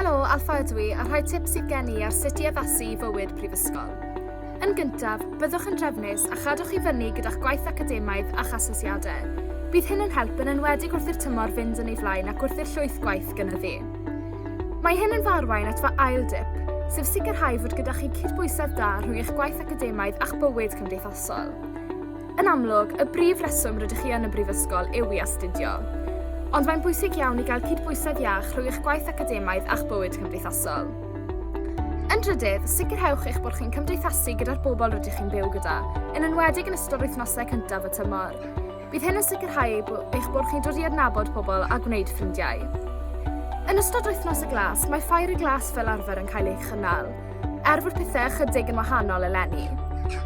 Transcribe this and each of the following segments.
Helo, Alfa ydw i, a rhai tips sydd gen i ar sut i addasu i fywyd prifysgol. Yn gyntaf, byddwch yn drefnus a chadwch i fyny gyda'ch gwaith academaidd a'ch asesiadau. Bydd hyn yn help yn enwedig wrth i'r tymor fynd yn ei flaen ac wrth i'r llwyth gwaith gynyddu. Mae hyn yn farwain at fy ail dip, sef sicrhau fod gyda chi cydbwysedd da rhwng eich gwaith academaidd a'ch bywyd cymdeithasol. Yn amlwg, y brif reswm rydych chi yn y Brifysgol yw i astudio. Ond mae'n bwysig iawn i gael cydbwysedd iach rhwng eich gwaith academaidd a'ch bywyd cymdeithasol. Yn drydydd, sicrhewch eich bod chi'n cymdeithasu gyda'r bobl rydych chi'n byw gyda, yn enwedig yn ystod wythnosau cyntaf y tymor. Bydd hyn yn sicrhau eich bod chi'n dod i adnabod pobl a gwneud ffrindiau. Yn ystod wythnos y glas, mae ffair y glas fel arfer yn cael ei chynnal, Er bod pethau ychydig yn wahanol eleni,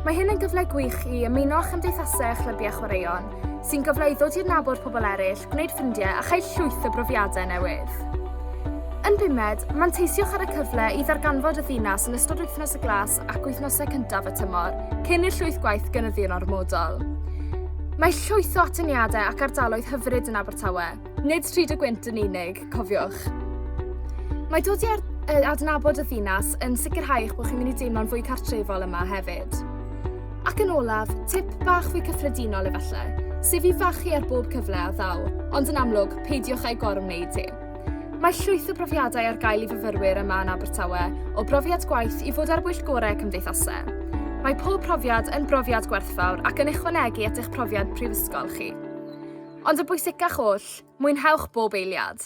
mae hyn yn gyfle gwych i ymuno â chymdeithasau a chlybiau chwaraeon, sy'n gyfle i ddod i adnabod pobl eraill, gwneud ffrindiau a chael llwyth o brofiadau newydd. Yn bumed, manteisiwch ar y cyfle i ddarganfod y ddinas yn ystod wythnos y glas ac wythnosau cyntaf y tymor, cyn i'r llwyth gwaith gynyddu'n ormodol. Mae llwyth o atyniadau ac ardaloedd hyfryd yn Abertawe, Nid stryd y gwynt yn unig, cofiwch. Mae dod i adnabod y ddinas yn sicrhau eich bod chi'n mynd i deimlo'n fwy cartrefol yma hefyd. Ac yn olaf, tip bach fwy cyffredinol efallai, sef i fachu ar bob cyfle a ddaw, ond yn amlwg, peidiwch â'i gorwneud hi. Mae llwyth o brofiadau ar gael i fyfyrwyr yma yn Abertawe, o brofiad gwaith i fod ar bwyll gorau cymdeithasau. Mae pob profiad yn brofiad gwerthfawr ac yn ychwanegu at eich profiad prifysgol chi. Ond y bwysicach oll, mwynhewch bob eiliad!